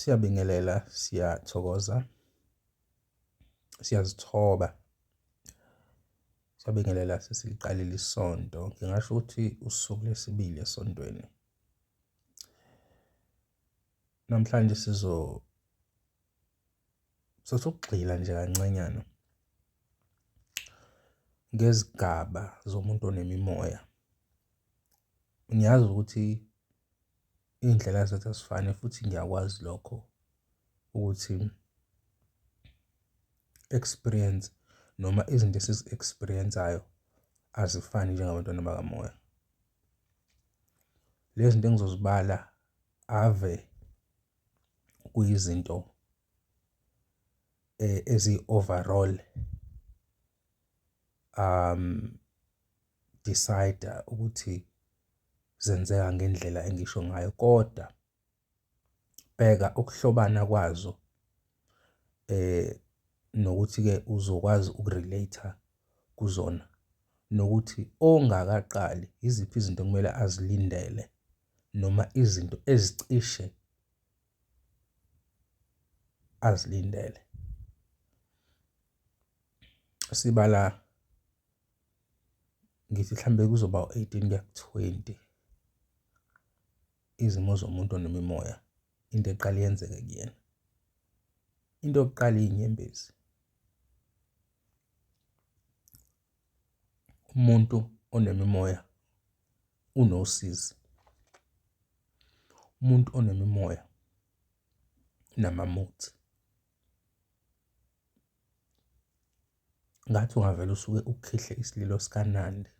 siyabingelela siyathokoza siyazithoba siyabingelela sesiliqalile isonto ngingasho ukuthi usuku lesibili esontweni Namhlanje sizo sokugxila nje kancanyana ngezigaba zomuntu onemimoya. Ngiyazi ukuthi iy'ndlela zethu azifani futhi ngiyakwazi lokho ukuthi experience noma izinto esizi-experience-ayo azifani njengabantwana bakamoya. Lezi zinto engizozibala. ave kuyizinto eh, ezi-overall um decide ukuthi zenzeka ngendlela engisho ngayo kodwa bheka ukuhlobana kwazo eh nokuthi ke uzokwazi ukurelate kuzona nokuthi ongakaqali yiziphi izinto okumele azilindele. noma izinto ezicishe azilindele. Sibala ngithi mhlambe kuzoba u-eighteen kuya ku-twenty izimo zomuntu onemimoya into eqale yenzeke kuyena. Into yokuqala iyinyembezi. Umuntu onemimoya unosizi. Umuntu onemimoya unamamuthi. Ngathi ungavele usuke ukhihle isililo sikaNandi.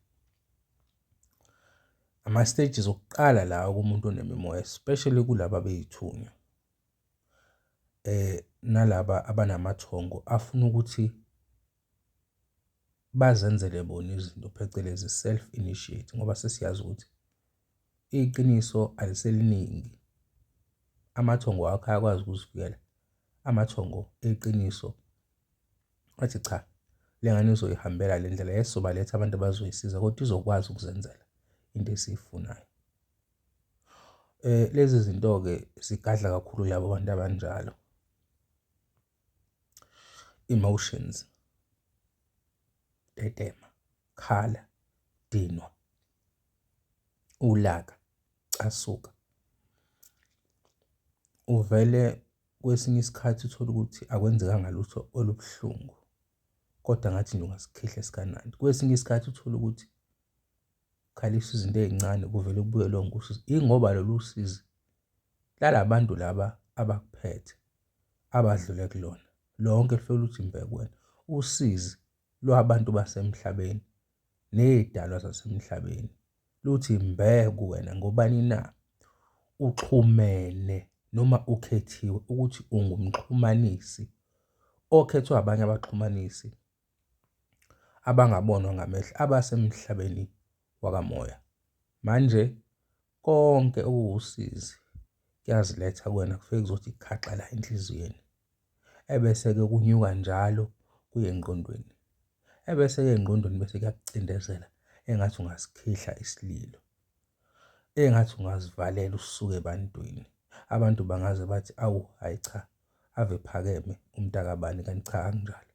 Ama-stages okuqala lawa kumuntu onemimoya especially kulaba bey'thunywa nalaba abanamathongo afuna ukuthi. bazenzele bona izinto phecelezi self initiate ngoba sesiyazi ukuthi iqiniso aliseliningi. Amathongo wakho ayakwazi ukuzivikela amathongo eqiniso athi cha le ngane uzoyihambela le ndlela yes sobaletha abantu abazoyisiza kodwa izokwazi ukuzenzela into esiyifunayo. Lezi zinto-ke zigadla kakhulu labo bantu abanjalo. Emotions, tetema, khala, dinwa, ulaka, casuka. Uvele kwesinye isikhathi uthole ukuthi akwenzekanga lutho olubuhlungu kodwa ngathi nje ungasikhihla esikanandi. Kwesinye isikhathi uthole ukuthi ukhalisa izinto ey'ncane kuvele kubuye lonke usizi. Ingoba lolu sizi lala bantu laba abakuphethe. abadlule kulona lonke lufike luthi mbhe kuwena usizi lwabantu basemhlabeni nezidalwa zasemhlabeni luthi mbhe kuwena ngobani na uxhumene noma ukhethiwe ukuthi ungumxhumanisi okhethwa abanye abaxhumanisi abangabonwa ngamehlo abasemhlabeni wakamoya. Manje konke okuwusizi kuyaziletha kuwena kufike kuzothi khaxa la enhliziyweni, ebese-ke kunyuka njalo kuye engqondweni, ebese-ke engqondweni bese kuyakucindezela engathi ungasikhihla isililo, engathi ungazivalela usuke ebantwini. Abantu bangaze bathi, awu hhayi cha. ave ephakeme umntakabani kanti cha akunjalo.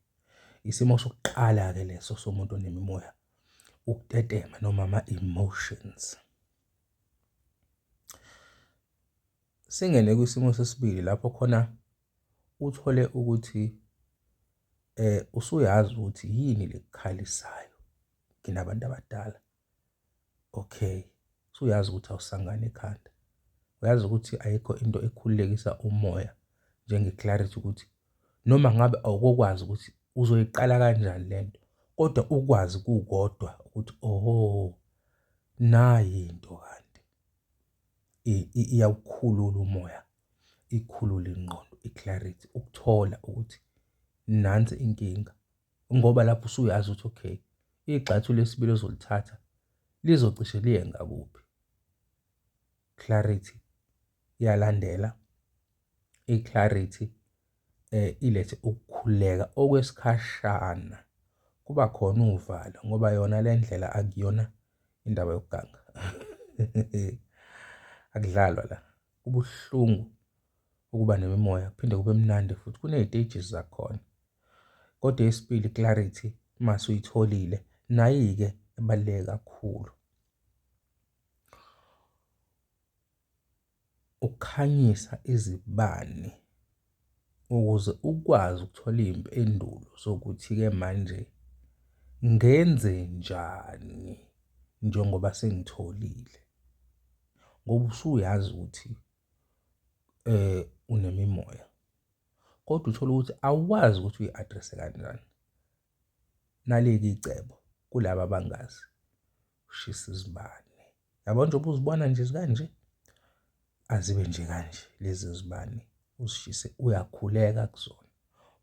Isimo sokuqala-ke leso somuntu onemimoya ukutetema noma ama-emotions. Singene kwisimo sesibili lapho khona uthole ukuthi usuyazi ukuthi yini lekukhalisayo kinabantu abadala. okay usuyazi ukuthi awusangane ekhanda uyazi ukuthi ayikho into ekhululekisa umoya njenge-clarity ukuthi noma ngabe awukokwazi ukuthi uzoyiqala kanjani le nto kodwa ukwazi kukodwa ukuthi oho nayi into kanti iyawukhulula umoya ikhulule ingqondo i-clarity ukuthola ukuthi nansi inkinga ngoba lapho usuyazi ukuthi okay igxathu lesibili ozolithatha lizocishe liye ngakuphi clarity iyalandela i-clarity eh ilethe ukukhuleka okwesikhashana kuba khona uvalo ngoba yona le ndlela akuyona indaba yokuganga akudlalwa la kubuhlungu ukuba nemimoya kuphinde kube mnandi futhi kuney'teji zakhona kodwa esibili clarity uma suyitholile nayi-ke ebaluleke kakhulu ukukhanyisa izibani ukuze ukwazi ukuthola iy'mpendulo zokuthi-ke manje ngenzenjani njengoba sengitholile ngoba usuyazi ukuthi unemimoya kodwa uthole ukuthi awazi ukuthi uyi-address-e kanjani. Naleli icebo kulaba abangazi, ushisa izibani. yabo njengoba uzibona nje zikanje azibe nje kanje lezi zibani uzishise uyakhuleka kuzona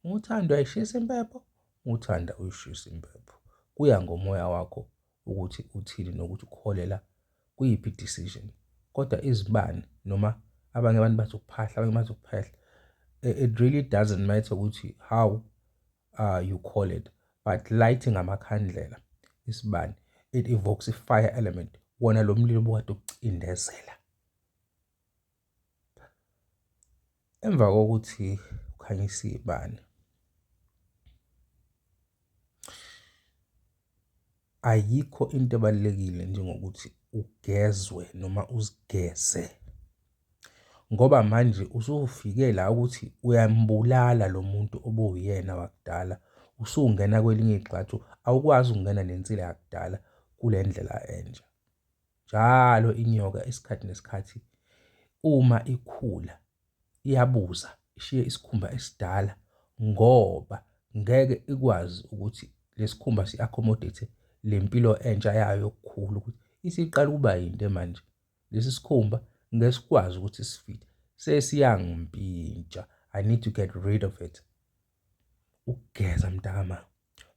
uthanda uyayishisa impepho uthanda uyishisa impepho kuya ngomoya wakho ukuthi uthini nokuthi ukholela kuyiphi decision kodwa izibani noma abanye abantu bazokuphahla abanye bazokuphahla it really doesn't matter ukuthi how uh, you call it but lighting amakhandlela isibani it evokes a fire element wona lo mlilo bukade ukucindezela emva kokuthi ukhanyisa ibani ayikho into ebalulekile njengokuthi ugezwe noma uzigeze ngoba manje usufike la ukuthi uyambulala lo muntu obowuyena wakudala, usungena kwelinye igxathu awukwazi ukungena nensila yakudala kule ndlela entsha. Njalo inyoka isikhathi nesikhathi uma ikhula iyabuza ishiye isikhumba esidala ngoba ngeke ikwazi ukuthi lesikhumba si-accommodate le mpilo entsha yayo yokukhula ukuthi isiqala ukuba yinde manje lesi sikhumba ngeke sikwazi ukuthi sifite sesiyangimpintsha i need to get rid of it ukugeza mntakama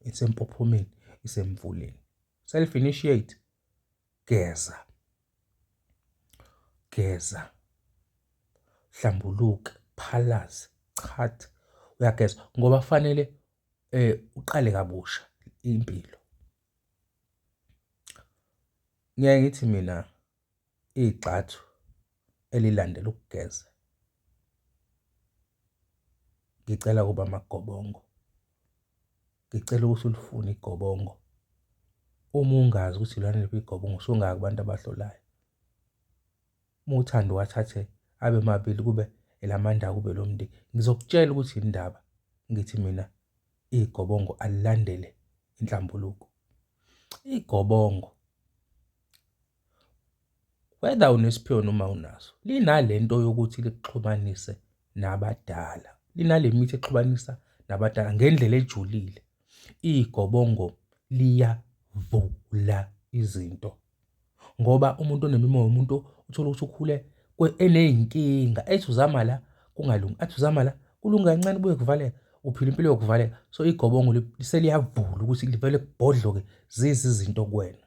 isempophomeni isemvuleni self initiate Geza. Geza. Hlambuluke, phalaze, chatha, uyageza ngoba kufanele uqale kabusha impilo. Ngiyaye ngithi mina igxathu elilandela ukugeza. Ngicela ukuba amagobongo. Ngicela ukuthi ulifune igobongo. Uma ungazi ukuthi lona liphi igobongo usungaya kubantu abahlolayo. Uma uthanda uwathathe abe mabili kube elamanda kube lomndeni. Ngizokutshela ukuthi yini indaba ngithi mina igobongo alilandele inhlambuluko. Igobongo whether unesiphiwo noma awunaso, linale nto yokuthi likuxhumanise nabadala. Linale mithi exhumanisa nabadala ngendlela ejulile. Igobongo liyavula izinto ngoba umuntu onemimoya umuntu uthole ukuthi ukhule eney'nkinga ethi uzama la kungalungi, athi uzama la kulunge kancane kubuye kuvaleka uphila impilo yokuvaleka. So igobongo seliyavula ukuthi livele kubhodloke zize izinto kuwena.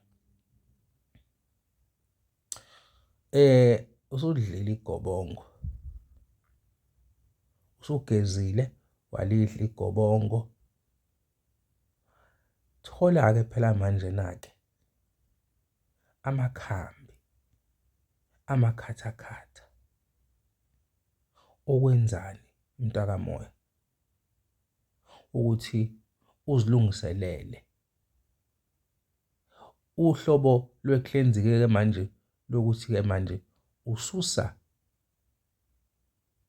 Usudlile igobongo, usugezile walidla igobongo. Thola-ke phela manjena-ke amakhambi amakhathakhatha okwenzani mntaka Moyo? Ukuthi uzilungiselele Uhlobo lwe-cleansing-ke ke manje lokuthi-ke manje ususa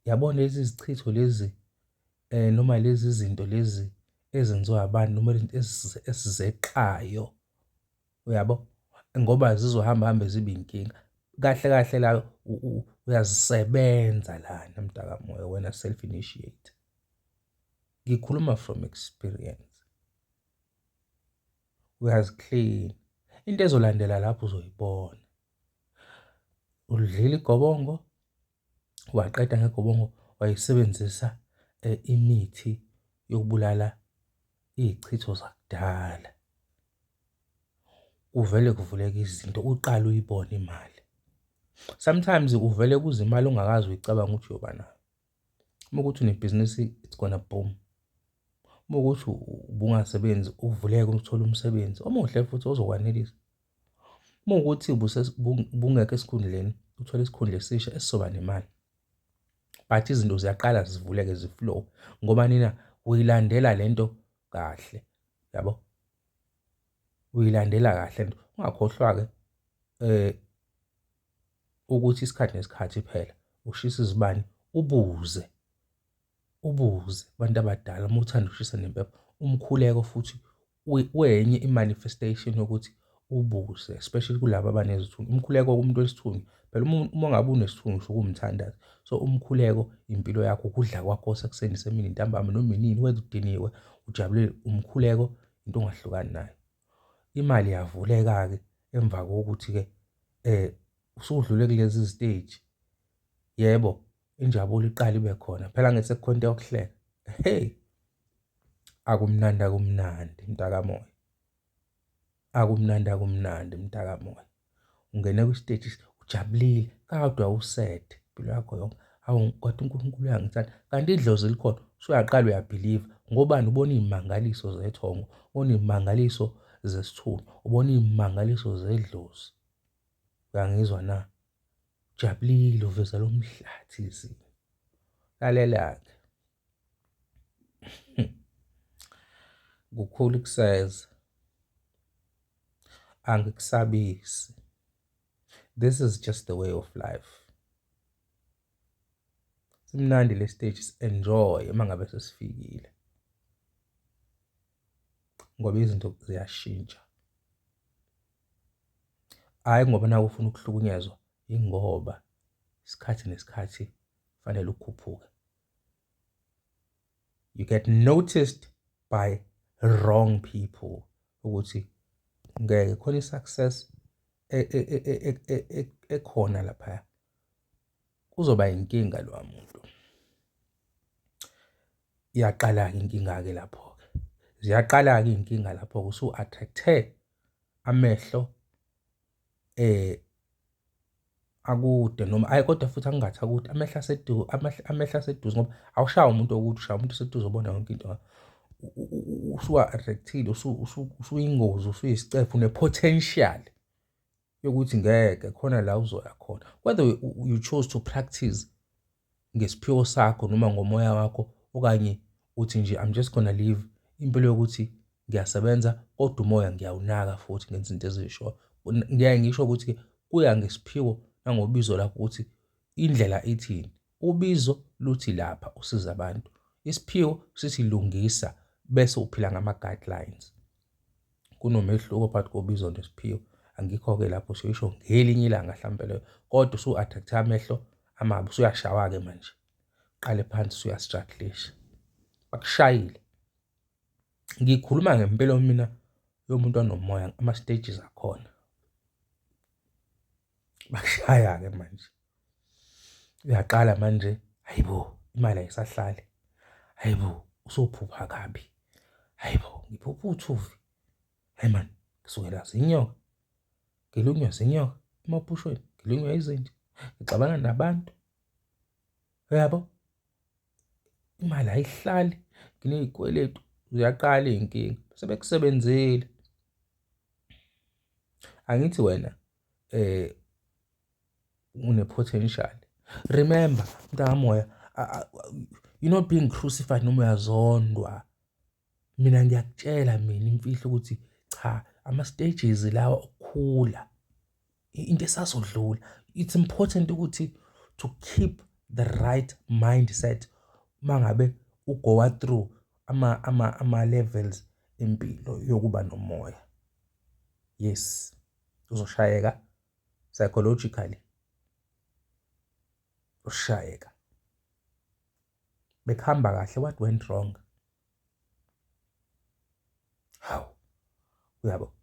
yabona lezi zichitho lezi um noma lezi zinto lezi ezenziwa abantu noma lento esizeqayo, uyabo? Ngoba zizohamba hambe zibe inkinga. Kahle kahle la uyazisebenza lana mtakamoya wena self initiate. Ngikhuluma from experience. uyaziklina into ezolandela lapho uzoyibona ulidlile igobongo waqeda ngegobongo wayisebenzisa eh, imithi yokubulala izichitho zakudala kuvele kuvuleke izinto uqala uyibone imali sometimes uvele kuze imali ongakazi uyicabanga ukuthi uyoba nayo Uma ukuthi unebhizinisi it's gonna boom. Uma ukuthi ubungasebenzi uvuleke uthole umsebenzi omuhle futhi ozokwanelisa. Uma ukuthi ubungekho esikhundleni uthole isikhundla esisha esizoba nemali. But izinto ziyaqala zivuleke ziflow ngoba nina uyilandela le nto kahle yabo. Uyilandela kahle nto ungakhohlwa-ke um ukuthi isikhathi nesikhathi phela ushisa izibani ubuze ubuze abantu abadala uma uthanda ukushisa nempepho umkhuleko futhi wenye i-manifestation yokuthi ubuze especially kulaba abanezithunywa umkhuleko kumuntu wesithunywa phela uma ngabe unesithunywa usho ukumthandaza so umkhuleko impilo yakho ukudla kwakho sekuseni semini ntambama noma inini wenza udiniwe ujabulile umkhuleko into ongahlukani nayo imali yavuleka-ke emva kokuthi-ke um usudlule kulezi ziteji yebo injabulo iqala ibe khona phela ngithi sekukhona into yokuhleka hey akumnandi akumnandi mntakamoya akumnandi akumnandi mntakamoya ungene kwisiteji ujabulile kodwa used impilo yakho yonke hawu kodwa uNkulunkulu uyangithanda kanti idlozi likhona usuyaqala uyabhiliva ngobani ubona iy'mangaliso zethongo ubona iy'mangaliso zesithulu ubona iy'mangaliso zedlozi uyangizwa na ujabulile uveza lo mhlathi izinto lalela-ke Kukhulu ukuseza, angikusabisi. This is just the way of life. Simnandi le stage si-enjoy uma ngabe sesifikile ngoba izinto ziyashintsha. Hhayi ngoba nawe ufuna ukuhlukunyezwa, yingoba isikhathi nesikhathi kufanele ukhuphuke. you get noticed by wrong people ukuthi ngeke khona i-success e, e, e, ekhona lapha kuzoba inkinga lo muntu iyaqala-ke inkinga-ke lapho-ke ziyaqala-ke iy'nkinga lapho-ke usu-attract-e amehlo eh akude noma ayi kodwa futhi angingathi akude amehla aseduze amehla aseduze ngoba awushaya umuntu okude ushaya umuntu oseduze obona yonke into usuwa-attractile usuyingozi usuyisicephu une-potential yokuthi ngeke khona la uzoya khona whether you chose to practice ngesiphiwo sakho noma ngomoya wakho okanye uthi nje I'm just gonna leave impilo yokuthi ngiyasebenza kodwa umoya ngiyawunaka futhi ngenza izinto ezishoyo. Ngiyaye ngisho ukuthi-ke kuya ngesiphiwo nangobizo lakho ukuthi indlela ithini. Ubizo luthi lapha usiza abantu, isiphiwo sithi lungisa bese uphila ngama-guidelines. kunomehluko phakathi kobizo nesiphiwo angikho-ke lapho siyisho ngelinye ilanga hlampe leyo kodwa usu-attract amehlo amabi usuyashawa-ke manje qale phansi usuyastruglisha bakushayile ngikhuluma ngempilo mina yomuntu onomoya ama-stages akhona bakushaya-ke manje uyaqala manje hayi bo imali ayisahlali hayi bo usophupha kabi hayi bo ngiphupha uthuvi hayi mani ngisukela zinyoka ngilunywa zinyoka emaphushweni ngilunywa izinja ngixabana nabantu uyabo imali ayihlali nginezikweletu uyaqala izinkinga sebekusebenzile angithi wena eh unepotential remember mntakamoya you're not being crucified noma uyazondwa mina ngiyakutshela mina imfihlo ukuthi cha ama stages lawa okukhula into esazodlula it's important ukuthi to keep the right mindset mangabe ugoa through ama ama ama levels impilo yokuba nomoya yes uzoshayeka psychologically ushayeka bekuhamba kahle what went wrong hawu uyabo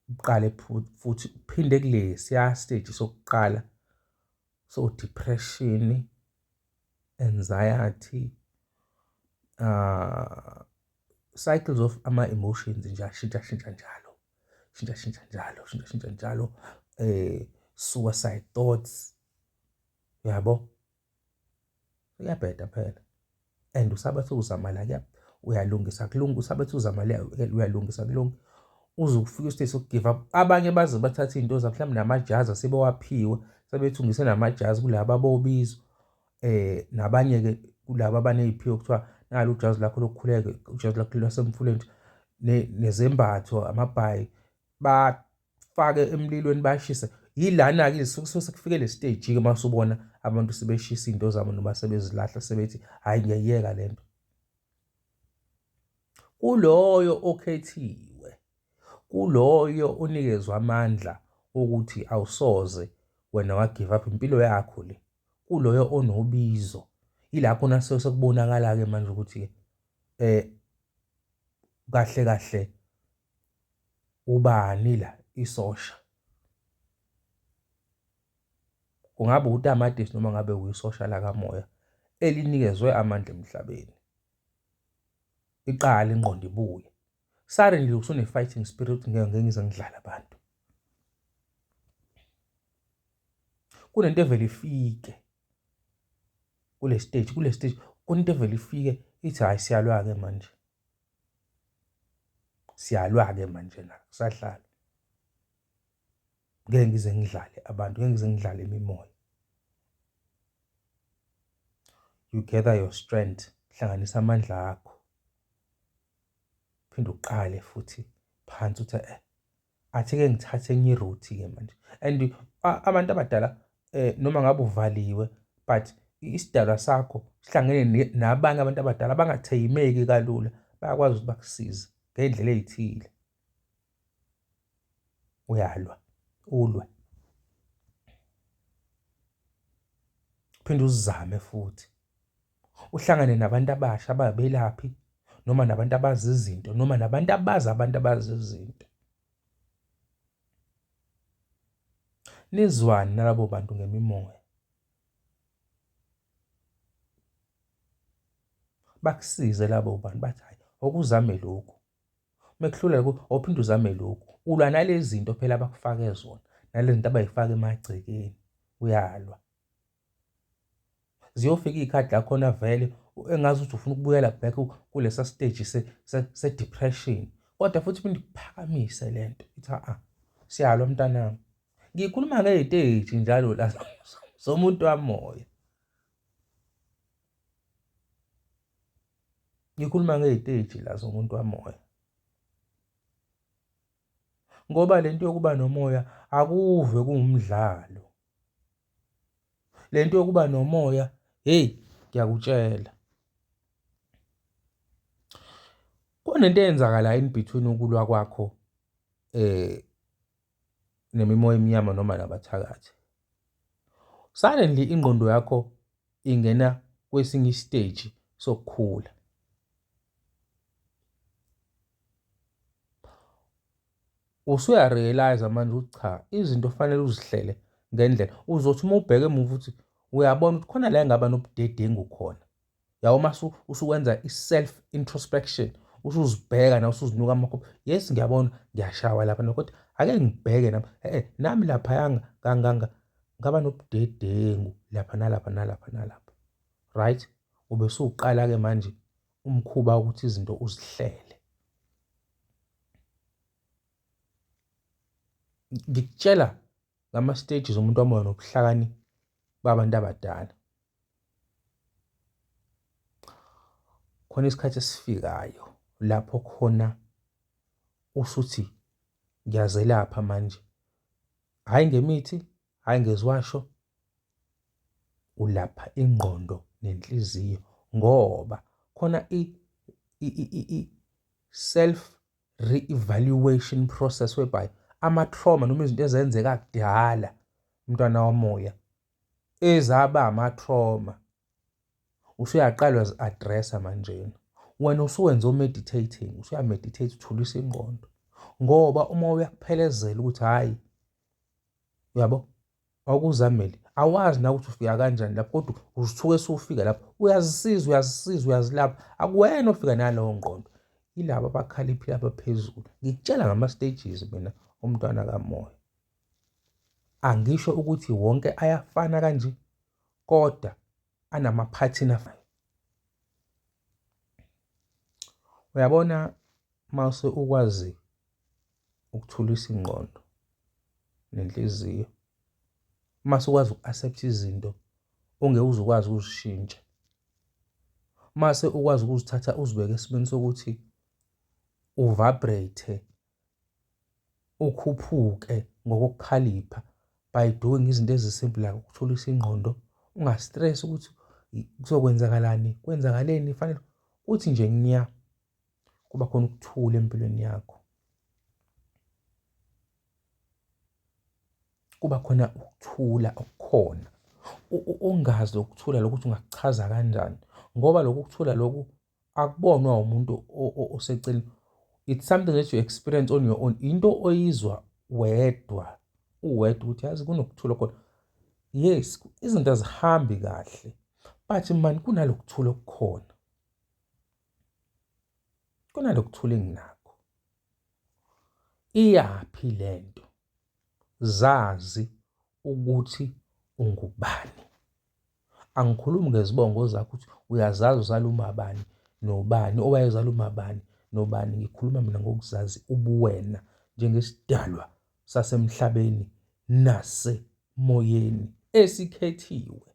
uqale futhi uphinde kulesi ya stage sokuqala so depression anxiety uh, cycles of ama-emotions nje ashintshashintsha njalo shintshashintsha njalo shintshashintsha njalo eh suicide thoughts yabo uyabheda phela and usabe sewuzamala kuyalungisa kulunga usabe sewuzamala uyalungisa kulunga uze ukufike ustate sokugive up abanye baze bathathe iy'nto zabo mhlawumbe namajazi asebewaphiwe sebethungise namajazi kulaba bobizwa um nabanye-ke kulaba abaney'phiwo kuthiwa nalo ujazi lakho lokukhuleke ujazi lakho lwasemfuleni nezembatho amabhayi bafake emlilweni bashise yilana-ke suke sekufike le stage-ke uma usubona abantu sebeshisa iy'nto zabo noma sebezilahla sebethi hhayi ngiyayiyeka le nto Kuloyo okhethiwe, kuloyo onikezwe amandla okuthi awusoze wena wa give up impilo yakho le kuloyo onobizo ilapho nase sekubonakala ke manje ukuthi eh kahle kahle ubani la isosha kungaba utamatisi noma ngabe uyisosha lakamoya elinikezwe amandla emhlabeni. Iqala ingqondo ibuye. Sari nje usune-fighting spirit ngeke ngeke ngize ngidlale abantu. Kunento evele ifike kule stage kule stage kunento evele ifike ithi hhayi siyalwa-ke manje. Siyalwa-ke manje la kusadlala. ngeke ngize ngidlale abantu ngeke ngize ngidlale imimoya you gather your strength hlanganisa amandla akho phinde uqale futhi phansi uthi eh athi ke ngithathe enye iroute ke manje and abantu abadala eh noma ngabe uvaliwe but isidalwa sakho sihlangene nabanye abantu abadala abangatheyimeki kalula bayakwazi ukuthi bakusize ngendlela ezithile uyalwa ulwe phinde uzame futhi uhlangane nabantu abasha ababelaphi noma nabantu abazi izinto noma nabantu abazi abantu abazi izinto nizwani nalabo bantu ngemimoya bakusize labo bantu bathi hayi okuzame lokhu Uma ekuhlula lokhu awuphinde uzame lokhu. Ulwa nalezi zinto phela abakufake zona, nalezi zinto abayifaka emagcekeni, uyalwa. Ziyofika iy'khathi la khona vele engazi ukuthi ufuna ukubuyela back kulesa stage se-depression. Kodwa futhi uphinde ukuphakamise le nto, ithi a-a, siyalwa mntanami. Ngikhuluma ngey'teji njalo la zomuntu wamoya. ngikhuluma ngey'teji la zomuntu wamoya ngoba le nto yokuba nomoya akuve kuwumdlalo le nto yokuba nomoya heyi ngiyakutshela kunento eyenzakalayo in between ukulwa kwakho eh nemimoya emnyama noma nabathakathi suddenly ingqondo yakho ingena kwesinye isiteji sokukhula usuyarealize manje ukuthi cha izinto kufanele uzihlele ngendlela uzothi uma ubheke emuva ukuthi uyabona ukuthi khona la engaba nobudedengu khona yabo uma usukwenza i-self introspection usuzibheka na usuzinuka amakhophi yes ngiyabona ngiyashawa lapha no kodwa ake ngibheke nami e-e nami laphayanga kanganga ngaba nobudedengu lapha nalapha nalapha nalapha right ube suqala-ke manje umkhuba ukuthi izinto uzihlele ngikutshela ngama stages omuntu wamoya nobuhlakani babantu abadala khona isikhathi esifikayo lapho khona usuthi ngiyazelapha manje hhayi ngemithi hhayi ngeziwasho ulapha ingqondo nenhliziyo ngoba khona i self re-evaluation process whereby ama-trauma noma izinto ezenzeka kudala umntwana womoya ezaba ama-trauma usuyaqalwa zi-addressa manjena wena usuwenza o-meditating usuyameditate uthulisa ingqondo ngoba uma uyakuphelezela ukuthi hhayi uyabo wawukuzamele awazi na ukuthi ufika kanjani lapho kodwa uzithuke sewufika lapho uyazisiza uyazisiza uyazilapha akuwena ofika nalowo ngqondo yilabo abakhaliphile abaphezulu ngikutshela ngama-stages mina umntwana kamoya angisho ukuthi wonke ayafana kanje kodwa anamaphathini afanayo uyabona mase ukwazi ukuthulisa ingqondo nenhliziyo uma sukwazi uku-accept izinto ongeke uze ukwazi ukuzishintsha mase ukwazi ukuzithatha uzibeke esimeni sokuthi uvibrate ukhuphuke ngokukhalipha by doing izinto ezisimple like ukuthulisa ingqondo ungastress ukuthi kuzokwenzakalani kwenzakaleni fanele uthi nje ngiya kuba khona ukuthula empilweni yakho kuba khona ukuthula okukhona ungazi ukuthula lokuthi ungakuchaza kanjani ngoba lokhu kuthula lokhu akubonwa umuntu oseceleni it's something that you experience on your own into oyizwa wedwa uwedwa ukuthi yazi kunokuthula khona yes izinto azihambi kahle but mani kunalokuthula okukhona kunalokuthula enginakho iyaphi lento zazi ukuthi ungubani angikhulumi ngezibongo zakho ukuthi uyazazi uzala umabani nobani owayezala umabani nobani ngikhuluma mina ngokuzazi ubuwena njengesidalwa sasemhlabeni nasemoyeni esikhethiwe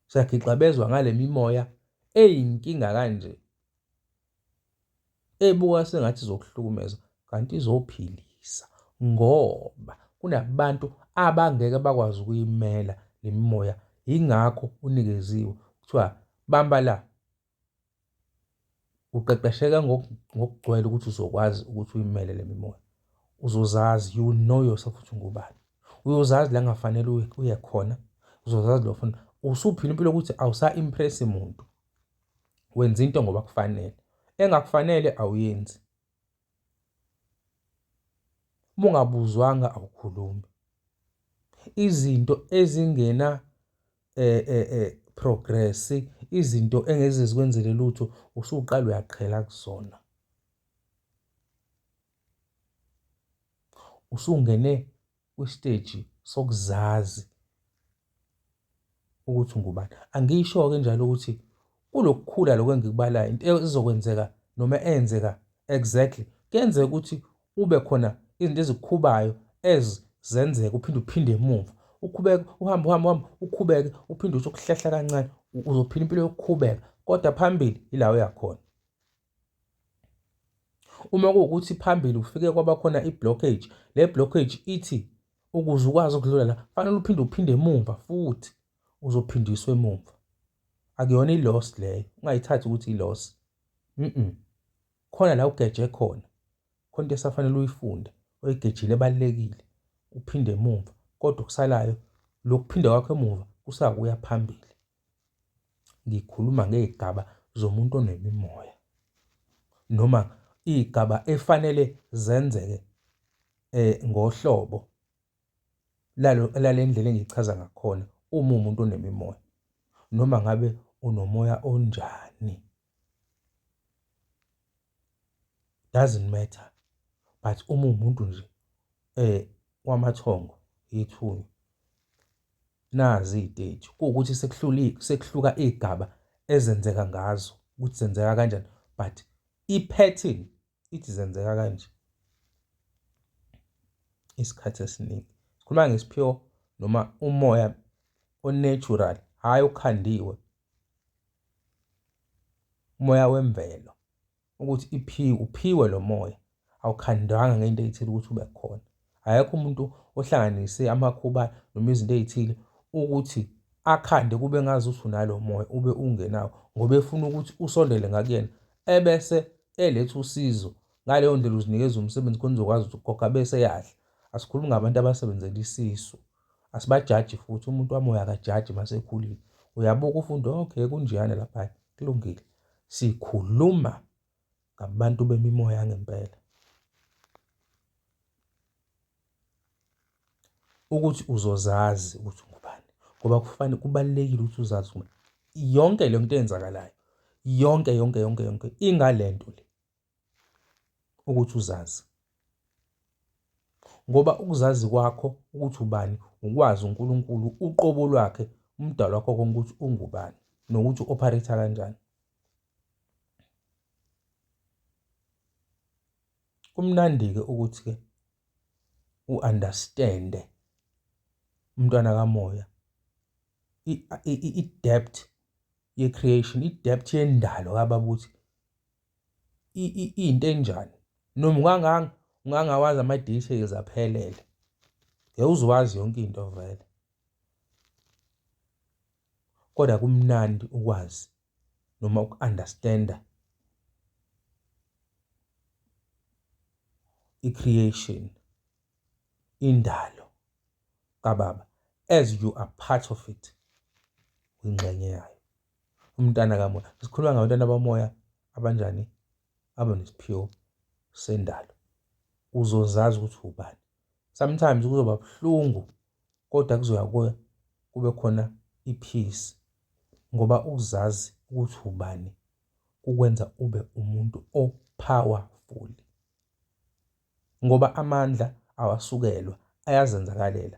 Siyagixabezwa ngale mimoya eyinkinga kanje ebuka sengathi izokuhlukumeza kanti izophilisa ngoba kunabantu abangeke bakwazi ukuyimela le mimoya yingakho unikeziwe kuthiwa bamba la uqeqesheka ngokugcwele ukuthi uzokwazi ukuthi uyimele le mimoya uzozazi you will know yourself ukuthi ungubani uyozazi la ngafanele uye khona uzozazi lo funa usuphila impilo ukuthi awusa-impress muntu wenza into ngoba kufanele engakufanele awuyenzi uma ungabuzwanga awukhulumi izinto ezingena eh eh eh progress izinto engeze zikwenzele lutho usuqala uyaqhela kuzona usungene kwistage sokuzazi ukuthi ngubani angisho ke njalo ukuthi Kulokukhula lokho engikubalayo into ezokwenzeka noma eyenzeka exactly kuyenzeka ukuthi ube khona izinto ezikukhubayo as zenzeka uphinde uphinde emuva ukhubeke uhambe uhambe uhambe ukhubeke uphinde uthi ukuhlehla kancane uzophila impilo yokukhubeka kodwa phambili ila uyakhona uma kuwukuthi phambili ufike kwaba khona i-blockage le blockage ithi ukuze ukwazi ukudlula la fanele uphinde uphinde emuva futhi uzophindiswa emumva akuyona i-loss leyo ungayithathi ukuthi i-loss mhm khona la ugeje khona khona into esafanele uyifunde oyigejile ebalekile uphinde emuva kodwa okusalayo lokuphinda kwakho emuva kusakuya phambili ngikhuluma ngezigaba zomuntu onemimoya noma igaba efanele zenzeke eh ngohlobo lale ndlela engichaza ngakhona uma umuntu onemimoya noma ngabe unomoya onjani doesn't matter but uma umuntu nje eh wamathongo yethunywa nazi iy'teji kuwukuthi sekuhluka iy'gaba ezenzeka ngazo ukuthi zenzeka kanjani but i-pattern ithi zenzeka kanje isikhathi esiningi sikhuluma ngesiphiwo noma umoya onatural hhayi okhandiwe umoya wemvelo ukuthi iphiwe uphiwe lo moya awukhandwanga ngento ethile ukuthi ube khona akekho umuntu ohlanganise amakhuba noma izinto ey'thile ukuthi akhande kube ngazi ukuthi unalo moya ube ungenawo ngoba efuna ukuthi usondele ngakuyena ebese eletha usizo ngaleyo ndlela uzinikeza umsebenzi khona uzokwazi ukuthi ukhokha bese yadla asikhulumi ngabantu abasebenzela isisu asibajaji futhi umuntu wamoya akajaji masekhulile uyabuka ufunde okay kunjeyana lapha kulungile sikhuluma ngabantu bemimoya yangempela. Ukuthi uzozazi ukuthi ungubani ngoba kufanele kubalulekile ukuthi uzazi ukuthi yonke le nto eyenzakalayo yonke yonke yonke yonke ingale nto le ukuthi uzazi ngoba ukuzazi kwakho ukuthi ubani ukwazi uNkulunkulu uqobo lwakhe umdali wakho konke ukuthi ungubani nokuthi u-ophareyitha kanjani. Kumnandi-ke ukuthi-ke u-understand-e umntwana kamoya i-depth ye-creation, i-depth yendalo kababa ukuthi iyinto enjani noma unganganga ungangawazi ama-details aphelele ngeke uziwazi yonke into vele kodwa kumnandi ukwazi noma uku-understand-a i-creation, indalo kaBaba as you are part of it, uyingxenye yayo. Umntana kamoya, sikhuluma ngabantwana bamoya abanjani? Abanesiphiwo sendalo. Uzozazi ukuthi ubani sometimes kuzoba buhlungu kodwa kuzoya kube khona i-peace ngoba ukuzazi ukuthi ubani kukwenza ube umuntu o-powerful ngoba amandla awasukelwa ayazenzakalela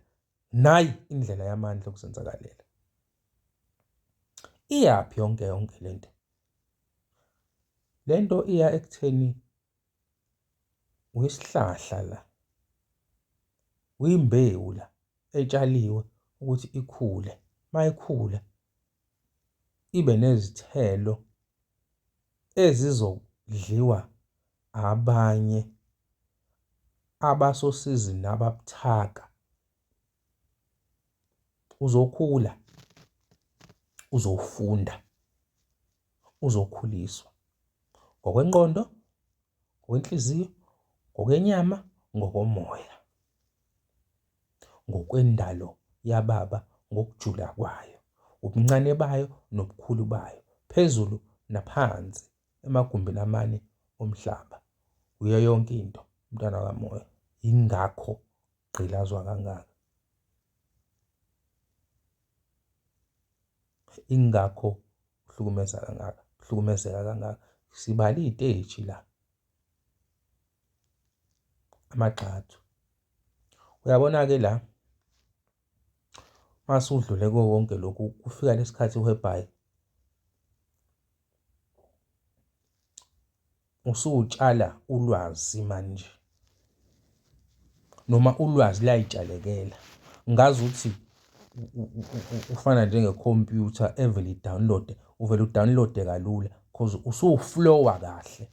nayi indlela yamandla okuzenzakalela iyaphi yonke yonke lento lento iya ekutheni uyisihlahla la uyimbewu la etshaliwe ukuthi ikhule mayikhula ibe nezithelo ezizodliwa abanye abasosizini ababuthaka uzokhula uzofunda uzokhuliswa ngokwenqondo ngokwenhliziyo ngokwenyama ngokomoya ngokwendalo yababa ngokujula kwayo ubuncane bayo nobukhulu bayo phezulu naphansi emagumbini amane omhlaba uyo yonke into umntwana kamoya ingakho gqilazwa kangaka. Ingakho uhlukumeza kangaka, uhlukumezeka kangaka. Sibale iy'teji la, amagxathu. Uyabona-ke la mase udlule kuwo wonke lokhu kufika lesikhathi whereby Usutshala ulwazi manje. Noma ulwazi layitshalekela. Ngazi ukuthi ufana njengekhompyutha evele idownloade, uvele udownloade kalula because usuflowa kahle.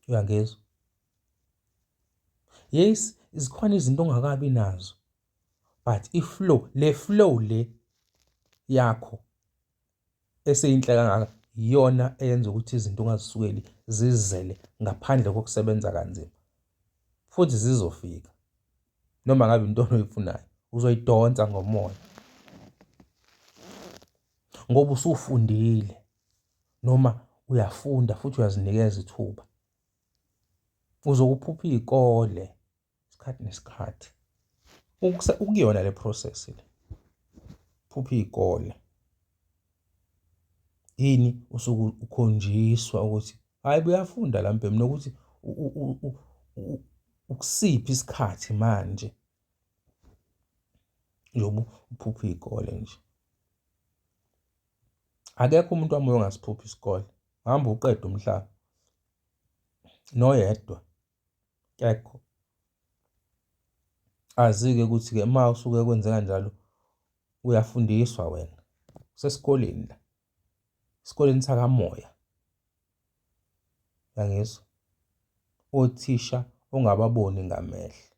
Uyangizwa? Yes, zikhona izinto ongakabi nazo. but iflow le flow le yakho eseyinhle kangaka iyona eyenza ukuthi izinto ungazisukeli zizele ngaphandle kokusebenza kanzima futhi zizofika noma ngabe into oyifunayo uzoyidonsa ngomoya ngoba usufundile noma uyafunda futhi uyazinikeza ithuba uzokuphupha iy'kole isikhathi nesikhathi ukuyona le process le phupha iy'kole yini usuke ukhonjiswa ukuthi hhayi buyafunda la mbhemu nokuthi ukusiphi isikhathi manje yobu uphupha iy'kole nje akekho umuntu wamoya ongasiphuphi isikole hamba uqede umhlaba noyedwa kekho. Azi-ke ukuthi-ke uma usuke kwenzeka njalo uyafundiswa wena usesikoleni la esikoleni sakamoya yangizwa othisha ongababoni ngamehlo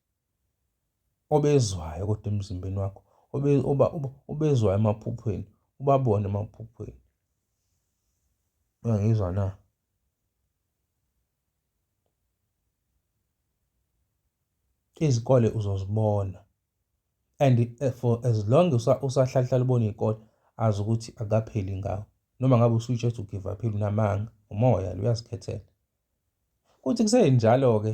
obezwayo kodwa emzimbeni wakho obezwayo emaphuphweni ubabone emaphuphweni uyangizwa na Izikole uzozibona and eh, for as long usahlalahlala ubona iy'kole azi ukuthi akapheli ngawo noma ngabe usuyitshe ethi ugive up unamanga umoya lo uyazikhethela kuthi kusenjalo-ke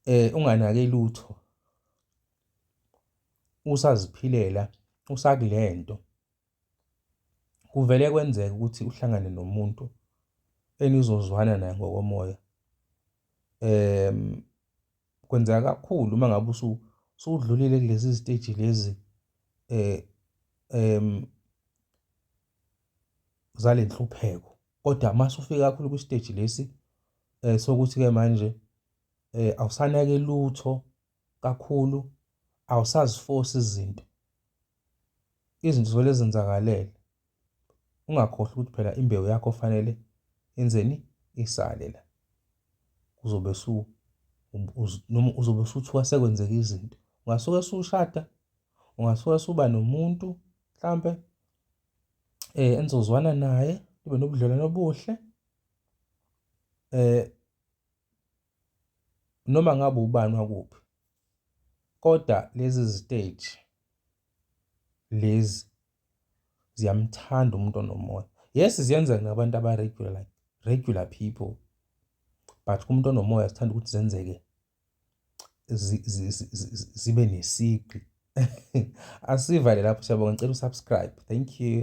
eh unganake lutho usaziphilela usakulento Kuvele kwenzeke ukuthi uhlangane nomuntu enizozwana naye ngokomoya. Kwenzeka kakhulu uma ngabe usudlulile kulezi ziteji lezi zale nhlupheko, kodwa uma usufika kakhulu kwisiteji lesi sokuthi-ke manje awusanaki lutho kakhulu awusazifosi izinto. Izinto zivele zenzakalele. Ungakhohlwa ukuthi phela imbewu yakho fanele enzeni isale la. Uzobe su noma uzobe usuthiwa sekwenzeka izinto. Ungasuke sushada, ungasuke suba nomuntu mhlampe eh enizozwana naye, nibe nobudlelwano obuhle. Eh noma ngabe ubani wakuphi kodwa lezi ziteji lezi ziyamthanda umuntu onomoya yes ziyenza ngabantu aba-regular like regular people but kumuntu onomoya sithanda ukuthi zenzeke zibe nesigqi asivale lapho siyabonga ngicela usubscribe thank you